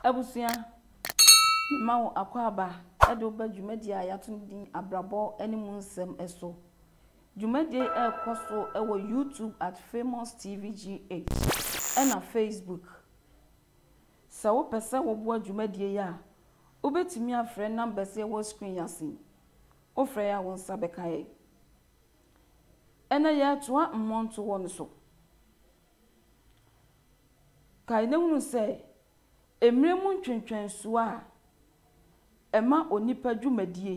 Abusua, Mema wo akwaaba de wo ba dwumadie a yɛato no din Abrabɔ ne Mu Nsɛm so. Dwumadie yi rekɔ so wɔ YouTube at Famous TV GH ɛna Facebook. Sɛ wopɛ sɛ woboa dwumadie yi a, wobɛtumi afrɛ numbers a ɛwɔ screen yi ase yi. Wofrɛ yi a wo nsa bɛka yɛn. Ɛnɛ yɛretoa mmɔntoɔ no so. Kae na hunu sɛ, mmerɛ mu ntwentwɛnsoɔ a ɛma onipa dwumadie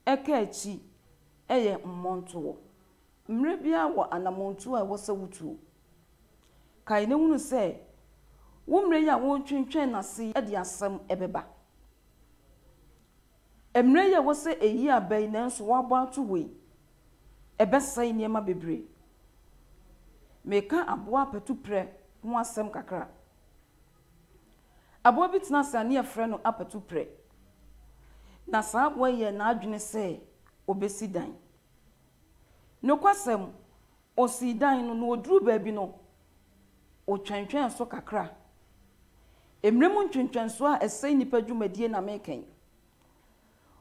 ɛka akyi yɛ mmɔntoɔ. Mmerɛ biara wɔ anamɔntuo a ɛwɔ sɛ wotuo. Kae na hunu sɛ, wo mmerɛ yi a woretwentwɛn no ase de asɛm bɛba. Mmerɛ yi a ɛwɔ sɛ ɛyi aba yi nanso wɔabɔ ato hɔ yi, ɛbɛsɛe nneɛma bebree. Mereka aboa apatuprɛ ho asɛm kakra. Aboa bi tena ase a ne yɛfrɛ no apatuprɛ. Na saa aboa yi yɛɛ n'adwene sɛ ɔbɛsi dan. Nokwasɛm, Osii dan no, na oduruu baabi no, otwentwɛn so kakra. Mmere mu ntwentwɛnso a ɛsɛe nnipa dwumadi na mereka yi.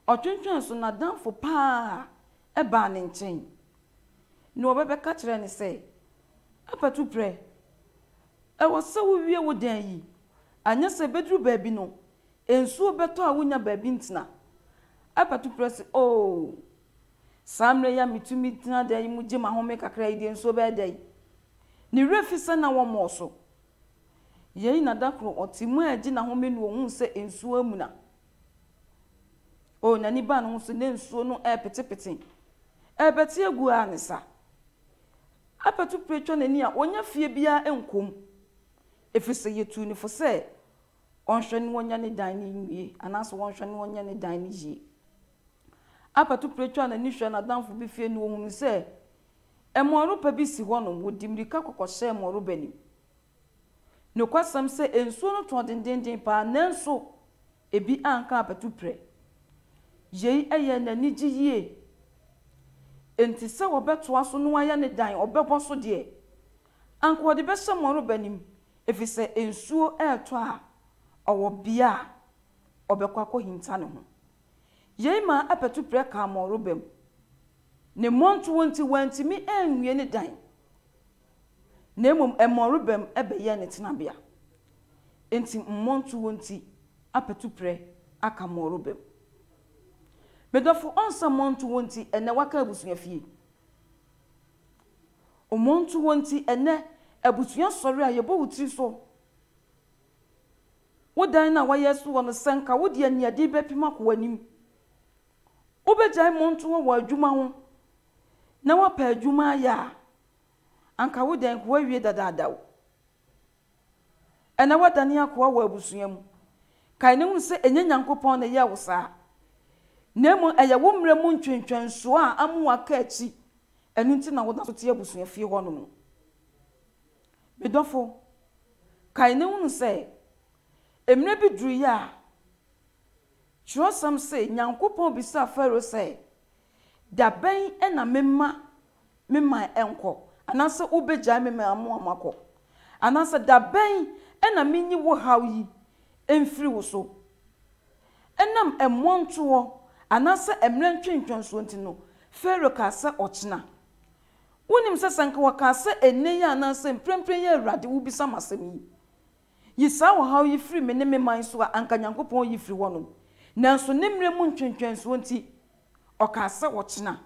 Ɔtwentwɛn so, n'adamfo pa ara baa ne nkyɛn. Nea ɔbɛbɛka kyerɛɛ no sɛ, Apatuprɛ, ɛwɔ sɛ wuwie wo dan yi, anyɛ saa ebeduru baabi no, nsuo bɛtɔ a wunnya baabi ntena. Apatuprɛ se, Oo, Saa mmerɛ yi a metumi tena dan yi mu gye m'ahome kakra yi deɛ, nsuo bɛyɛ dɛn? Ne werɛ fi sɛ na wɔmmɔɔ so. Yei na da koro ɔte mu regye n'ahome no ɔhuu sɛ nsuo amuna. O, n'ani baa ne ho so na nsuo no repetepete, ɛrebɛte agu ara ne sa. Abɛto pire atwa n'ani a ɔnnya fie biara nkɔ mu, ɛfiri sɛ yɛtuu no fo sɛ ɔnhwɛ na ɔnyɛ ne dan no nwie anaasɛ ɔnhwɛ na ɔnyɛ ne dan no yie. Albert pere twaa n'ani hwɛɛ n'adamfo bi fie na ohunuu sɛ mmɔnroba bi si hɔnom. Wodi mmirika kɔ kɔhyɛɛ mmɔnroba no mu. Nokwasɛm sɛ nsuo no tɔɔ dendeenden paa, nanso ebi anka Albert pere. Yei yɛɛ no anigye yie. Enti sɛ wɔbɛtoa so na wɔayɛ ne dan, ɔbɛbɔ so deɛ, anka ɔde bɛhyɛ mmɔnroba no mu, efisɛ nsuo retɔ a, ɔwɔ bea a ɔbɛkɔ akɔhinta ne ho. Yei maa apatuprɛ kaa Morobem ne mmɔntoɔ nti wantumi anwie ne dan, na mmom Morobem bɛyɛɛ ne tenabea. Enti mmɔntoɔ nti apatuprɛ aka Morobem. Me dɔfo ɔnsa mmɔntoɔ nti ɛnnɛ waka abusua fie. Mmɔntoɔ nti ɛnnɛ abusua sɔre a yɛbɔ wo tiri so. Wo dan no a woayɛ asi hɔ no, sɛ anka wode aniɛden bɛpem akɔ w'anim. Wobɛgyae mmɔntohɔ wɔ adwuma ho na woapɛ adwuma ayɛ a, anka wo dan no woawie dadaada o. Ɛnnɛ woadane akoa wɔ abusua mu. Kae na hu sɛ ɛnyɛ Nyankopɔn na ɛyɛɛ wo saa, na mmom ɛyɛ wo mmerɛ mu ntwentwɛnsoɔ a ama woaka akyi, ɛno nti na woda so te abusua fie hɔnom no. Me dɔfo, kae na hunu sɛ, mmerɛ bi duruiɛ a, twerɛsɛm se, Nyankopɔn bisaa Farao sɛ, Da bɛn na memma me man nkɔ, anaasɛ wobɛgyae me man mu ama kɔ? Anaasɛ da bɛn na menyi wo haw yi mfiri wo so? Ɛnam mmoa ntoɔ, anaasɛ mmerɛ ntwentwɛnsoɔ nti no, Farao kaa sɛ ɔkyena. Wunim sɛ, sɛ anka wɔkaa sɛ nnɛ yi anaasɛ mprempren yi a Awurade wubisa me asɛm yi, yi saa ɔhaw yi firi me ne me man so a, anka Nyankopɔn reyi firi hɔnom. Nanso ne mmerɛ mu ntwentwɛnsoɔ nti, ɔkaa sɛ ɔkyena.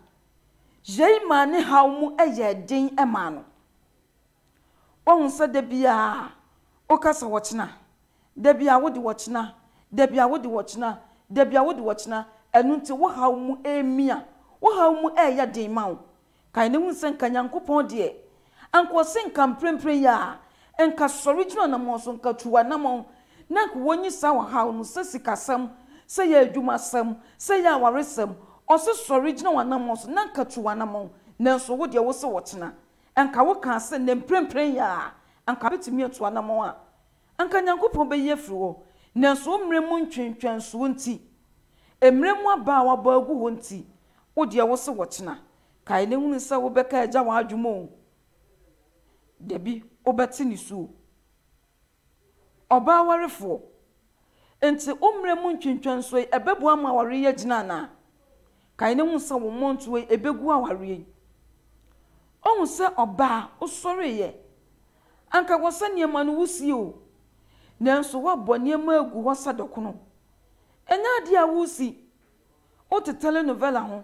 Yei maa ne haw mu yɛɛ den maa no. Woahu sɛ da biara woka sɛ ɔkyena, da biara wode ɔkyena, da biara wode ɔkyena, da biara wode ɔkyena, ɛno nti wo haw mu remia, wo haw mu reyɛ den ma wo. Kae na hu sɛ nka Nyankopɔn deɛ, anka ɔse nka mprempren yi ara, nka sɔre gyina ɔnammɔn so, nka tu w'anammɔn, na nka wonyi saa ɔhaw no, sɛ sikasɛm, sɛ ɛyɛ adwumasɛm, sɛ ɛyɛ awaresɛm, ɔse sɔre gyina w'anammɔn so, na nka tu w'anammɔn, nanso wo deɛ wose ɔkyena, Anka wokaa sɛ, Nnɛ mprempren yi ara, anka metumi atu anammɔn a anka Nyankopɔn beyi afiri hɔ, nanso wo mmere mu ntwentwɛnsoɔ nti, mmere mu aba a wɔabɔ agu hɔ nti, wo deɛ wo se ɔkyena. Kae na hunu sɛ wobɛka agya w'adwuma o, dabi, wobɛte ne su o. Ɔbaa warefoɔ, enti wo mmerɛ mu ntwentwɛnsoɔ yi ɛbɛboa ama awareɛ yi agyina anaa? Kae na hu sɛ wo mmɔntoɔ yi ɛbɛgu awareɛ yi. Woahu sɛ ɔbaa wosɔreeɛ, anka wɔ sɛ nneɛma no wusie o, nanso woabɔ nneɛma agu hɔ sɛ dɔkono. Ɛnyɛ adeɛ a woresi, wote telenovela ho,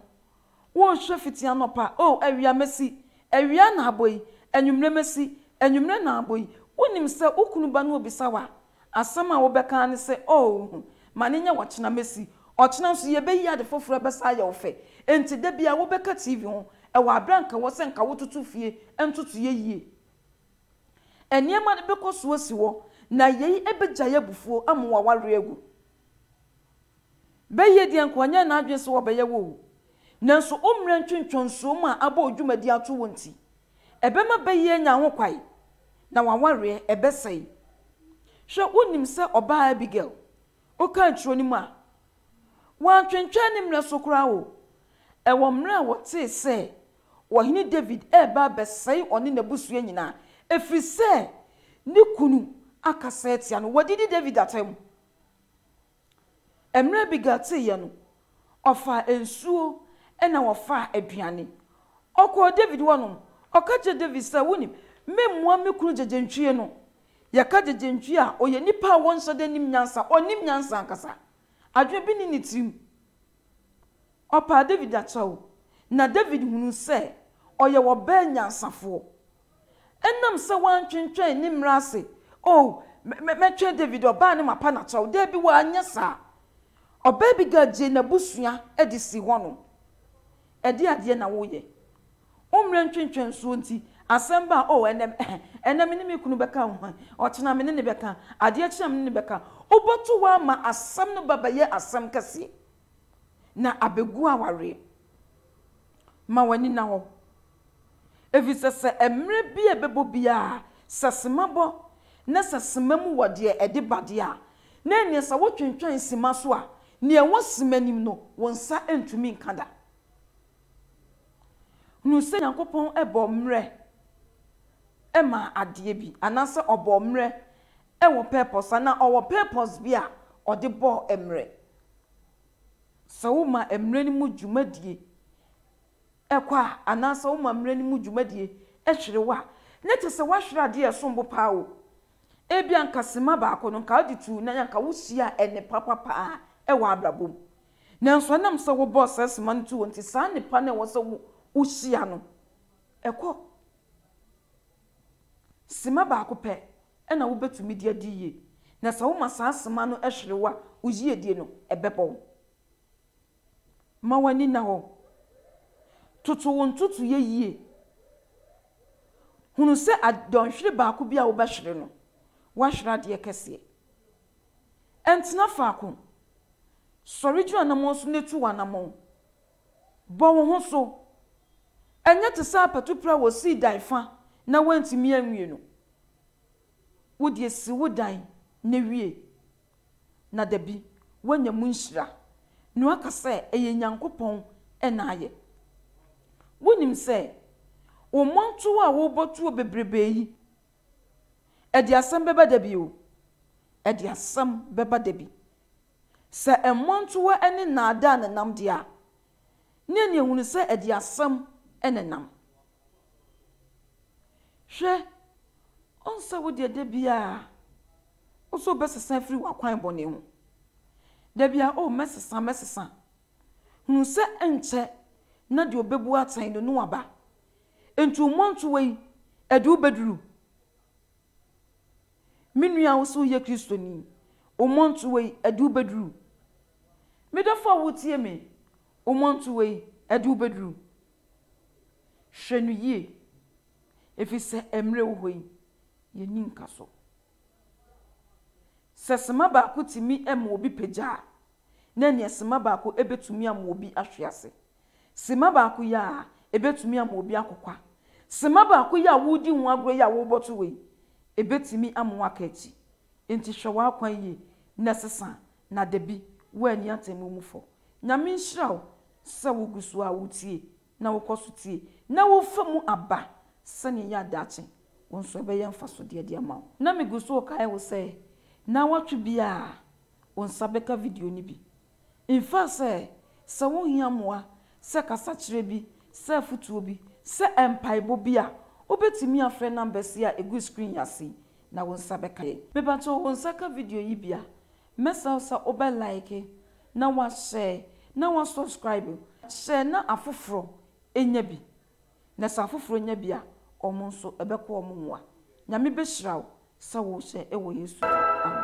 Wonhwɛ fiti anɔpa, O awia mesi, awia na abɔ yi, anwummere mesi, anwummere na abɔ yi. Wunim sɛ wo kunu ba no rebisa wo a, asɛm a wobɛka ara ne sɛ, Oh, ma no nyɛ ɔkyena mesi. Ɔkyena nso yebeyi ade foforo a ɛbɛsan ayɛ wo fɛ. Enti da biara wobɛka TV ho wɔ bere a anka ɛwɔ sɛ anka wototo fie ntotoeɛ yie. Nneɛma no bɛkɔ so asi hɔ, na yei begyae abufuo ama w'awareɛ agu. Bɛyɛ deɛ nka ɔnyɛɛ n'adwene sɛ ɔbɛyɛ wɔ o, nanso wo mmerɛ ntwentwɔnsuo mu a abɔ wo dwumadie ato wo nti, ɛbɛma bɛyɛ anya ho kwan, na w'awareɛ, ɛbɛsɛe. Hwɛ, wonim sɛ ɔbaa Abigail, wokan twerɛ no mu a, wantwentwɛn ne mmerɛ so koraa o, ɛwɔ mmerɛ a wɔtee sɛ Ɔhene David reba abɛsɛe ɔne n'abusua nyinaa, ɛfiri sɛ ne kunu akasa atia no, wɔdidi David atɛm. Mmerɛ Abigail teeɛ no, ɔfaa nsuo ɛna ɔfaa aduane. Ɔkɔɔ David hɔ nom, ɔka kyerɛɛ David sɛ, Wonim, memmua me kunu gyegyentwie no. Yɛka gyegyentwie a, ɔyɛ nipa a ɔnhyɛda nnim nyansa, ɔnnim nyansa ankasa. Adwene bi nni ne tirim. Ɔpaa David akyɛw, na David hunuu sɛ ɔyɛ ɔbaa nyansafoɔ. Ɛnam sɛ wantwentwɛn ne mmara ase, Oh, mɛ, mɛtwɛn David ɔbaa no mapa no akyɛw. Dabi, wanyɛ saa. Ɔbaa bi Gad gyee n'abusua de sii hɔnom. Ɛdeɛn adeɛ na woyɛ? Wo mmerɛ ntwentwɛnsoɔ nti, asɛm ba a, oh, ɛnnɛ, eh, ɛnnɛ me ne me kunu bɛka, oh, eh, ɔkyena me ne no bɛka, adeɛ kye a me ne no bɛka. Wobɛto hɔ ara ma asɛm no ba bɛyɛ asɛm kɛseɛ, na abɛgu awareɛ. Ma w'ani nna hɔ. Efisɛ sɛ mmerɛ bi a ɛbɛbɔ biara, sɛ sima bɔ, na sɛ sima mu wɔ deɛ ɛde ba deɛ a, na ɛnneɛ sɛ wotwentwɛn sima so a, nea ɛwɔ sima nim no, wo nsa ntumi nka da. Hunu sɛ Nyankopɔn bɔɔ mmerɛ maa adeɛ bi, anaasɛ Ɔbɔɔ mmerɛ wɔ purpose, anaa Ɔwɔ purpose bi a Ɔde bɔɔ mmerɛ. Sɛ woma mmerɛ no mu dwumadie, kwa anaasɛ woma mmere no mu dwumadie hwere wo a, na kyerɛ sɛ woahwere adeɛ a ɛsom bo paa o. Ebia anka simma baako no, anka wode tuu nan, anka wosuaa nnepa pa paa wɔ abrabɔ mu. Nanso ɛnam sɛ wobɔɔ saa simma no too hɔ nti, saa nnepa no a ɛwɔ sɛ wosua no, ɛkɔ. Simma baako pɛ na wobɛtumi de adi yie. Na sɛ woma saa simma no hwere wo a, wo yiedie no, ɛbɛbɔ wo. Ma w'ani nna hɔ. Toto wo ntotoeɛ yie. Hunu sɛ dɔnhwere baako bi a wobɛhwere no, woahwere adeɛ kɛseɛ. Ntena faako. Sɔre gyina anammɔn so na tu w'anammɔn. Bɔ wo ho so. Ɛnyɛ te sɛ apatuprɛ a wɔsii dan fa na wɔantumi anwie no. Wo deɛ si wo dan na wie. na dabi woanya mu nhyira na woaka sɛ ɛyɛ Nyankopɔn na ayɛ. Wunim sɛ wo mmɔntow a worebɔ tuo bebrebe yi, ɛde asɛm bɛba da bi o, ɛde asɛm bɛba da bi. Sɛ mmɔntowa ne nnaadaa nenam de a, ne aniɛhunu sɛ adiasɛm na ɛnam. Hwɛ, ɔnsɛ wo deɛ da biara wo sɛ wobɛsesa afiri w'akwan bɔne ho, da biara, O, mɛsesa, mɛsesa, hunu sɛ ɛnkyɛ na deɛ ɔbɛbu atɛn no, Noa ba. Enti wo mmɔntowa yi, ɛde wo bɛduru. Me nua wo se woyɛ Kristoni, wo mmɔnto wei ɛde wo bɛduru. Me dɔfo a wotie me, wo mmɔnto wei ɛde wo bɛduru. Hwɛ no yie, ɛfiri sɛ mmerɛ wɔ hɔ yi, yɛnni nka so. Sɛ sima baako tumi ma obi pagya a, na ɛneɛ sima baako bɛtumi ama obi ahwe ase. Simma baako yi ara betumi ama obi akokwa. Simma baako yi a woredi ho agorɔ yi a worebɔto wei, ebetumi ama woaka akyi. Enti hwɛ w'akwan yie na sesa na da bi woanni atemmu mu fɔ. Nyame nhyira wo sɛ wogu so ara wotie na wokɔ so tie na wofa mu aba sɛnea ɛyɛ a daakye wo nso ɛbɛyɛ mfasodeɛ de ama wo. Na megu so rekae wo sɛ nnawɔtwe biara wo nsa bɛka video no bi. Mfa sɛ, sɛ wohia mmoa, sɛ kasakyerɛ bi, sɛ afotuo bi, sɛ mpaebɔ bi a, wobɛtumi afrɛ numbers yi a ɛgu screen yi ase yi na wo nsa bɛka yɛn. Mepakyɛw wo nsa ka video yi bi a, mɛsrɛ wo sɛ wobɛ like na wa share na wa subscribe. Share na afoforɔ nya bi. Na sɛ afoforɔ nya bi a, wɔn nso ɛbɛkɔ wɔn mmoa. Nyame bɛhyira wo sɛ wohyɛ wɔ Yesu din mu. Amen.